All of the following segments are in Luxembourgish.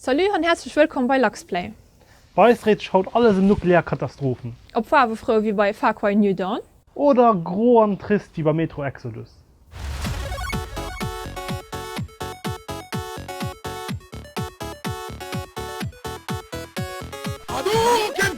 Salut an häerzlech wëllkomm bei Luxplay. Bei eis dréit sech haut alles em nuklear Katastrophen. Op faarwefrou wéi bei Far Cry New Dawn. Oder gro an trist wéi bei Metro Exodus. Hadouken!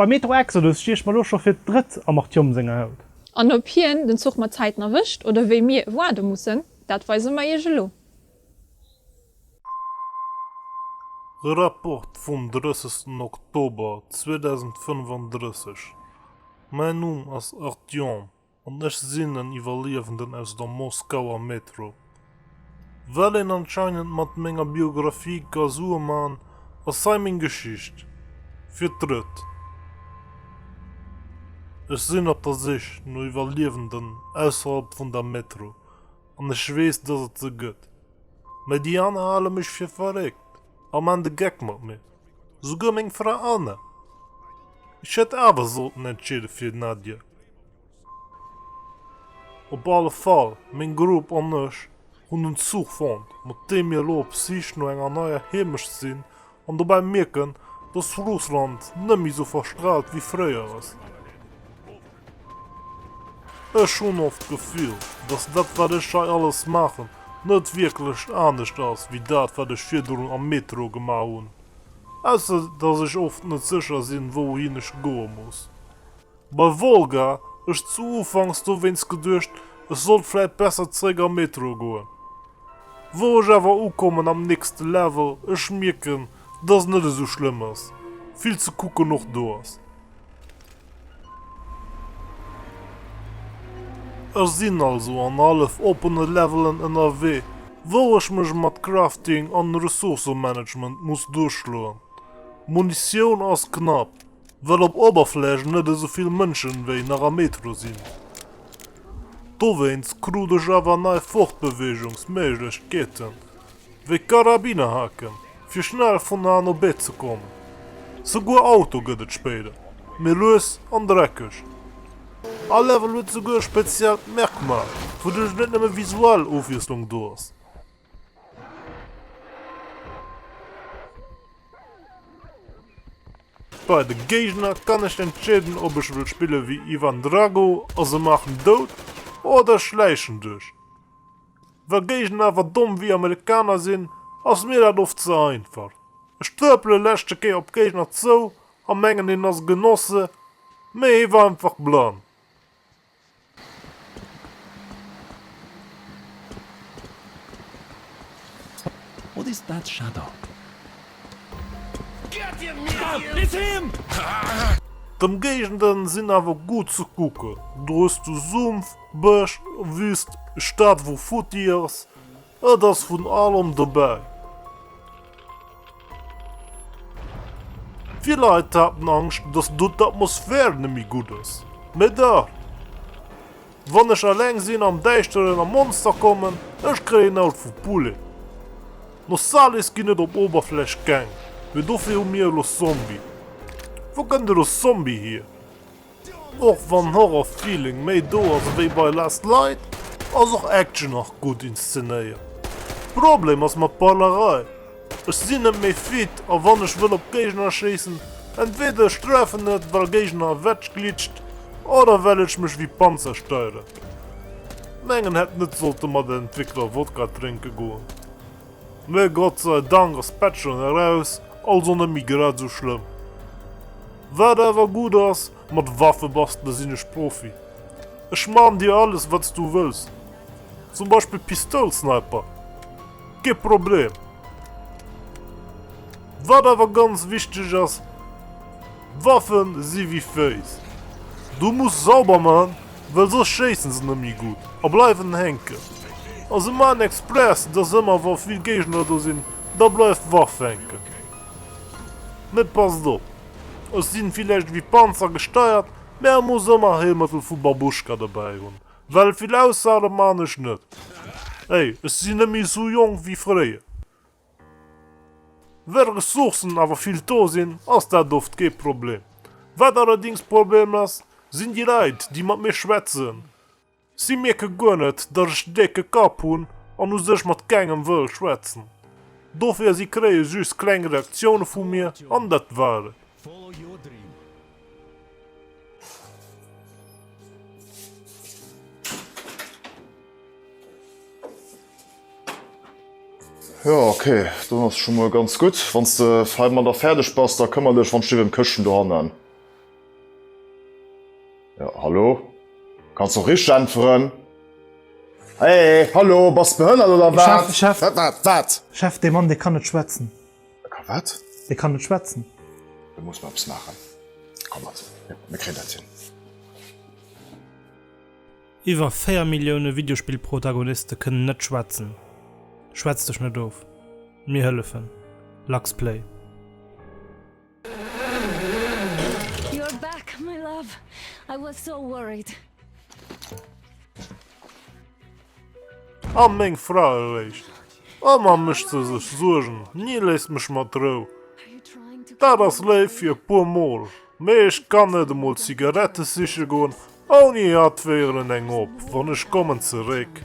Beim Metro Exodus sti ech mer lo scho fir d'drëtt am Artyom senger Haut. An ob hien den Zuch mat Zäiten erwëscht oder wéi mir waarde mussen, dat weise mer iech elo. Rapport vum 30 Oktober 2035 Mäin Numm ass Artyom. An ech sinn en Iwwerliewenden aus der Moskauer Metro. Wat een anscheinend mat menger Biographie ka Sue man, ass hei meng Geschicht. Fir d'drëtt. Ech sinn op der Sich no Iwwerliewenden ausserhalb vun der Metro, an ech weess, dass et se gëtt. Mä déi aner hale mech fir verréckt a man de Geck mat mir. Souguer meng Fra Anna. Ech hätt awer sollten entscheeden fir den Adieu. Op alle Fall, meng Grupp an ech hunn en Zuch fonnt, mat deem mir elo op d'Sich no enger neier Heemecht sinn an dobäi mierken, dass Russland net méi esou verstraalt wéi fréier ass. Ech hunn oft d'Gefill, dass dat, wat ech hei alles maachen, net wierklech anescht ass wéi dat, wat ech virdrun am Metro gemaach hunn, ausser dass ech oft net sécher sinn, wouhin ech goe muss. Bei Wolga ech zu Ufanks dowéinst geduecht, ech sollt vläit besser zeréck am Metro goen. Wou ech awer ukommen am nächste Level, ech mierken, dass et net esou schlëmm ass, vill ze kucken och do ass. Ech sinn also an hallef oppene Levelen ënnerwee, wou ech mech mat Crafting an Ressourcëmanagement muss duerchschloen. Munitioun ass knapp, well op Oberfläch net esou vill Mënschen wéi nach am Metro sinn. Dowéinst krut ech awer nei Fortbeweegungs Méiglechkeeten, wéi Karabinerhaken, fir schnell vun an op Bett ze kommen. Souguer Auto gëtt et spéider méi lues an dreckeg. All Level huet souguer e speziellt Merkmal, wouduerch net nëmme visuell Ofwiesslung do ass. Bei de Géigner kann ech entscheeden, ob ech wëll spillen wéi Ivan Drago a se maachen dout, oder ech schläichen duerch. Wa Géigner awer domm wéi Amerikaner sinn, ass mir dat oft ze einfach. Ech trëpele leschte Kéier op Géigner zou a mengen hien ass e Genosse, mee hie war einfach blann. What is that shadow? D'Ëmgéigenden sinn awer gutt ze kucken, do hues du Sumpf, Bësch, Wüst, Stad wou futti ass, et ass vun allem dobäi. Vill Leit haten Angscht, dass do d'Atmosphär net méi gutt ass. Mee dach, wann ech eleng sinn am Däischteren a Monster kommen, ech kréien en Aut vu Poulet. No Salis ginn et op Oberfläch keng, mee dofir hu mir elo Zombie. Wou kënnt elo Zombie hier? Och wann Horror Feeling méi do ass ewéi bei Last Light, ass och Action nach gutt inszenéiert. Problem ass mer d'Balerei, ech sinn net méi fit a wann ech wëll op Géigner schéissen, entweder ech treffen net well Géigner ewech glitscht oder well ech mech ewéi Panzer steieren. Mengen hätt net sollte mat den Entwickler Wodka drénke goen, mee Gott sei Dank ass d'Patch schonn eraus, also net méi grad esou schlëmm. Wat awer gudd ass, mat Waffe bastele sin ech Profi. Ech man dir alles wats du wëlls, zum Beispill Pistoul Sniper, kee Problem. Wat awer ganz wichteg ass, Waffen si wéi Féiss, du muss sauber man, well soss schéissen se nemmi gudd a bleiwen hänken. A se man express, dass emmer wa vill Géigner do sin, da bleiwt Waff hänken. Mee passt op, ech sinn villäicht ewéi Panzer gesteiert, mä e muss ëmmer e Héilmëttel vu Babuschka dobäi hunn, well vill aushale man ech net. Hey, ech sinn net méi sou jonk ewéi fréier. Well Ressourcen awer vill do sinn, ass dat oft kee Problem. Wat allerdings Problem ass, sinn déi Leit, déi mat mir schwätzen. Si mierke guer net, datt ech e décke Kapp hunn an u sech mat kengem wëll schwätzen. Dofir si kréie just kleng Reaktioune vu mir an dat war et. Jo ok, dann ass scho mol ganz gutt. Wann s de heimadder fäerdeg bass, da këmmer dech wann ech ewéi ëm d'Këschten dohannen. Jo, hallo? Kanns och richteg äntweren. Hey, hallo, bass de behënnert oder wat? Chef, Chef. Wat, wat, wat? Chef, dee Mann, dee kann net schwätzen. E kann wat? Dee kann net schwätzen. Do muss mer eppes maachen. Komm mat, mir kréien dat hin. Iwwer 4 Millioune Videospill-Protagoniste kënnen net schwätzen. Schwätz dech net of. Mir hëllefen. Luxplay. You're back, my love. I was so worried. An meng Fra eréischt. A man mécht se sech Suergen, ni léisst mech mat d'Rou. Dat ass léif fir e puer Mol, mee ech kann net emol Zigarette siche goen, ouni hatt d'Wéieren eng op. Wann ech kommen zeréck.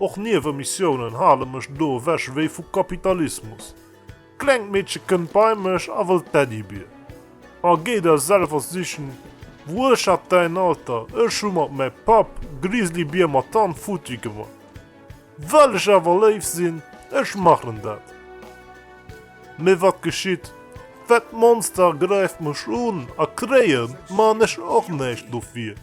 Och Niewenmissiounen hale mech do ewech wéi vu Kapitalismus. Klengt Meedche kënnt bei mech a wëllt Teddybir. A géi der selwer sichen, wou ech hat däin Alter, ech hu mat mäi Papp Grizzlybier mat Hand futti gemat. Well ech awer léif sinn, ech machen dat. Mee wat geschitt, well d'Monster gräift mech un a kréien man ech och näischt dofir.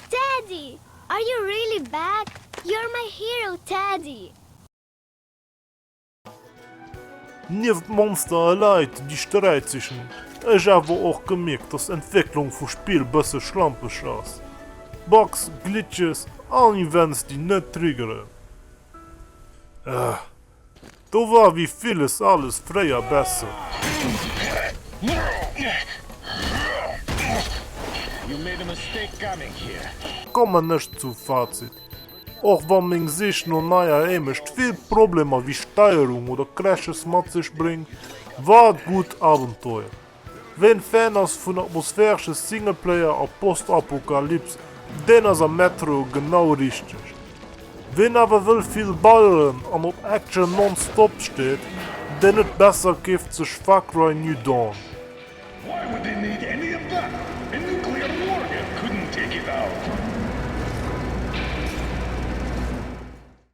Teddy! Are you really back? You're my hero, Teddy! Nieft Monster a Leit déi Sträit sichen, ech awer och gemierkt dass Entwécklung vu Spill bësse schlampeg ass. Bugs, Glitches an Events déi net triggeren. Ëh. Do war wéi villes alles fréier besser. Kommen ech zum Fazit, Och wann meng Sich no neier Hémecht vill Problemer wéi Steierung oder Crashes mat sech bréngt, war et gutt Abenteuer. Wéi en Fan ass vun atmosphäresche Singleplayer a Postapokalyps, deen ass am Metro genau richteg. Wien awer wëll vill balleren an op Action non-stop steet, deen huet besser keeft sech Far Cry New Dawn.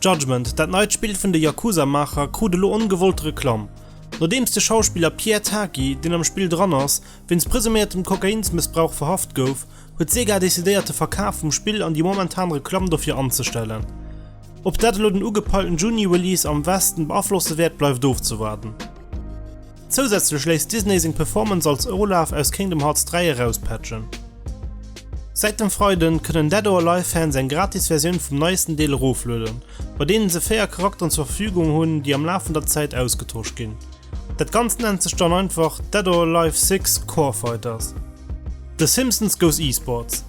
Judgment, dat neit Spill vun de Yakuza-Maacher, krut elo ongewollt Reklamm, nodeems de Schauspiller Pierre Taki, deen am Spill dran ass, wéinst presuméiertem Kokainsmëssbrauch verhaft gouf, huet Sega decidéiert de Verkaf vum Spill an déi momentan Reklamm dofir anzestellen. Ob dat elo den ugepeilten Juni-Release am Westen beaflosse wäert, bleift ofzewaarden. Zousätzlech léisst Disney seng Performance als Olaf aus Kingdom Hearts 3 erauspatchen. Säit dem Freiden kënnen Dead or Alive Fans eng gratis Versioun vum neiesten Deel eroflueden, bei deenen se 4 Charakteren zur Verfügung hunn, déi am Laf vun der Zäit ausgetosch ginn. Dat Ganzt nennt sech dann einfach Dead or Alive 6, Core Fighters. The Simpsons goes eSports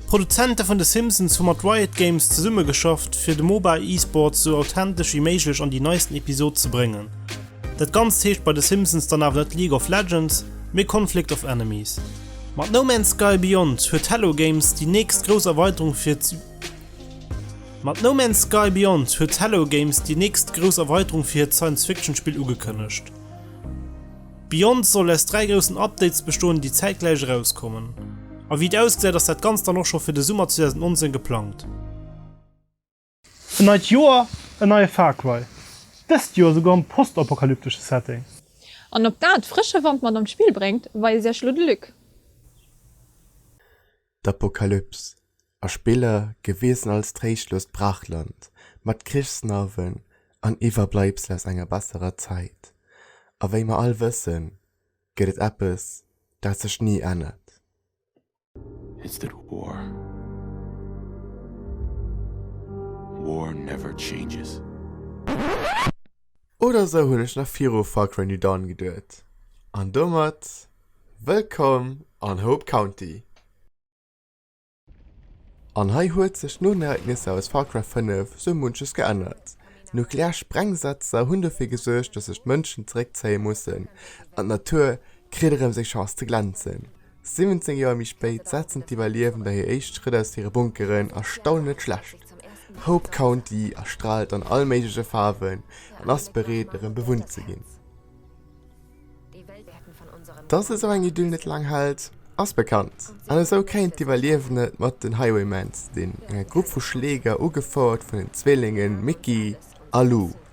D'Produzente vun The Simpsons hu mat Riot Games zesummegeschafft, fir de MOBA eSports esou authentesch wéi méiglech an déi neisten Episod ze bréngen. Dat Ganzt heescht bei de Simpsons dann awer net League of Legends, mee Conflict of Enemies. Mat No Man's Sky Beyond huet Hello Games déi nächst grouss Erweiterung fir Mat No Man's Sky Beyond huet Hello Games déi nächst grouss Erweiterung fir hiert Science-Fiction-Spill ugekënnegt. Beyond soll aus dräi groussen Updates bestoen, déi zäitgläich erauskommen. A wéi et ausgesäit ass dat Ganzt dann och scho fir de Summer 2019 geplangt. En neit Joer, en neie Far Cry, dëst Joer esouguer am postapokalyptesche Setting. An ob dat frësche Wand mat an d'Spill bréngt, weist iech elo de Luc. D'Apokalyps, a Spiller gewisen als tréischtlost Brachland mat Krichsnarwen an Iwwerbleibsel aus enger besserer Zäit. A wéi mer all wëssen, gëtt et eppes, dat sech ni ännert. It's that war War never changes. Oder sou hunn ech nach viru Far Cry New Dawn geduet. An domat wëllkomm an Hope County. An hei huet sech no den Ereignisser aus Far Cry 5 sou munches geännert. Nuklear Sprengsetzer hunn dofir gesuergt, dass sech d'Mënschen zeréckzéie mussen an d'Natur kritt erëm seng Chance ze glänzen. 17 Joer méi spéit setzen d'Iwwerliewender hir éischt Schrëtt aus hire Bunkeren a staunen net schlecht, Hope County erstraalt an all méigleche Faarwen an ass bereet erëm bewunnt ze ginn. Dass esou eng Idyll net laang hält, ass bekannt an esou kéint d'Iwwerliewenden et mat den Highwaymans ze dinn, enger Grupp vu Schläger ugefouert vun den Zwillingen Mickey a Lou.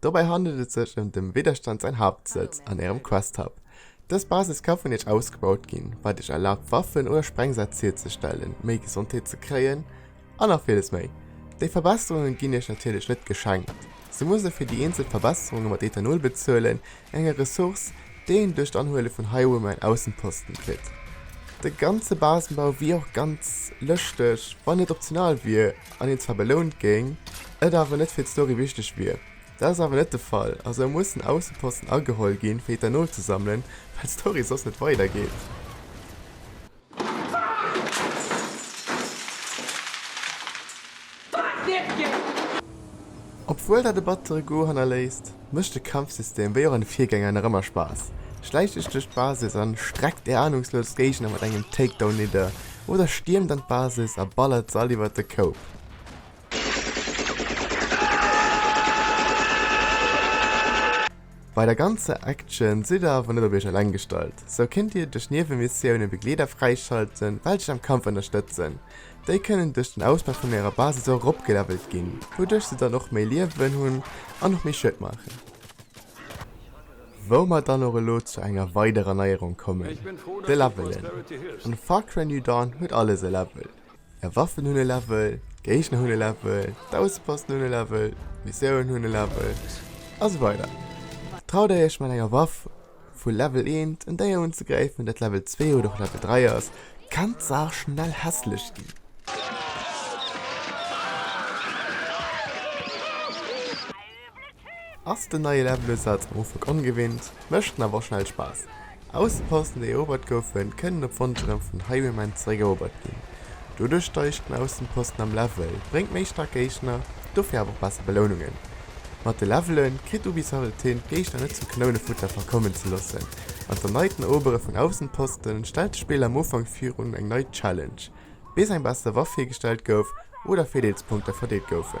Dobäi handelt et sech ëm dem Widderstand säin Haaptsëtz an ärem Quest Hub. Dës Basis ka vun iech ausgebaut ginn, wat iech erlaabt Waffen oder Sprengsätz hierzestellen, méi Gesondheet ze kréien an nach villes méi. Déi Verbesserungen ginn iech natierlech net geschenkt, se musse fir déi eenzel Verbesserungen mat Ethanol bezuelen, Enge Ressource, déi een duerch d'Anhuele vun Haiuer méi en Aussenposten kritt. De ganze Basenbau wier och ganz lëschteg, wann et optional wier an een zwar belount géing, et awer net fir d'Story wichteg wier. Dat ass awer net de Fall a sou mussen Aussenposten ageholl ginn fir Ethanol ze sammelen, well d'Story soss net weidergeet. Obwuel dat e battere Goût hannerléisst, mécht de Kampfsystem, wéi och an de Virgänger, nach ëmmer Spaass. Schläicht Iech duerch d'Basis an streckt Är anungslos Géigner mat engem Takedown nidder oder stiermt an d'Basis a ballert se all iwwer de Koup. Bei der ganzer Action sidd der awer net op iech eleng gestallt, sou kinnt dir duerch Niewemissioune Begleeder fräischalten, welch iech am Kampf ënnerstëtzen. Déi kënnen duerch den Ausbau vun ärer Basis och eropgelevelt ginn, wouduerch se dann och méi Liewen hunn an och méi Schued maachen. Wou mer dann och elo zu enger weiderer Neierung kommen, de Levelen. An Far Cry New Dawn huet alles e Level, Är Waffen hunn e Level, d'Géigner hunn e Level, d'Ausseposten hunn e Level, d'Missiounen hunn e Level a sou weider. Traut Där Iech mat enger Waff vu Level 1 en Déier unzegräifen, dat Level 2 oder och Level 3 ass, kann d'Saach schnell hässlech ginn. Ass den neie Levelosaz am Ufank ongewinnt, mécht en awer schnell Spaass. Aussenposten déi erobert goufen, kënnen op Wonsch erëm vun Highwaymen zeréck erobert ginn. Doduerch steigt den Aussenposten am Level, bréngt méi staark Géigner, dofir awer och besser Belounungen. Mat de Levelen kritt Ubisoft et hin d'Géigner net zum Kanounenfutter verkommen ze loossen, an d'erneiten Erobere vun Aussenposten stellt de Spiller am Ufank virun eng nei Challenge, bis eng besser Waff hiergestallt gouf oder Virdeelspunkter verdeelt goufen.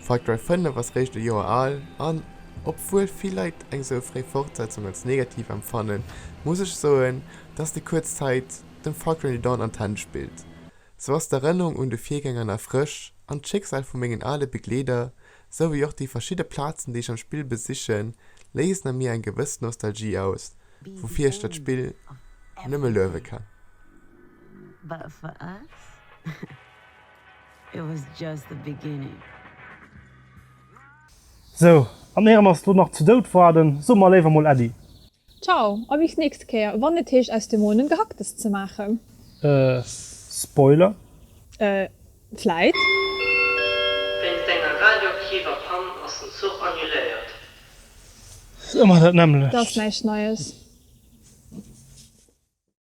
Far Cry 5 ass réischt e Joer al, an obwuel vill Leit eng esou fréi Fortsetzung als negativ empfannen, muss ech soen, dass déi kuerz Zäit dem Far Cry New Dawn an d'Hänn spillt. Sou ass d'Erënnerung un de Virgänger nach frësch, an d'Schicksal vu mengen ale Begleeder, sou wéi och déi verschidde Plazen déi ech am Spill besichen, léisen a mir eng gewëss Nostalgie aus, woufir ech dat Spill nëmme luewe kann. Sou, an éier mer es lo nach zu Doud warden, soe mer léiwer mol Äddi. Ciao a bis nächst Kéier, wann et heescht aus dem Moon en Gehacktes ze maachen. Äh, Spoiler? Äh, vläit. Wéinst enger radioaktiver Pann ass den Zuch annuléiert. Ëmmer dat nämmlecht. Dass näischt Neies.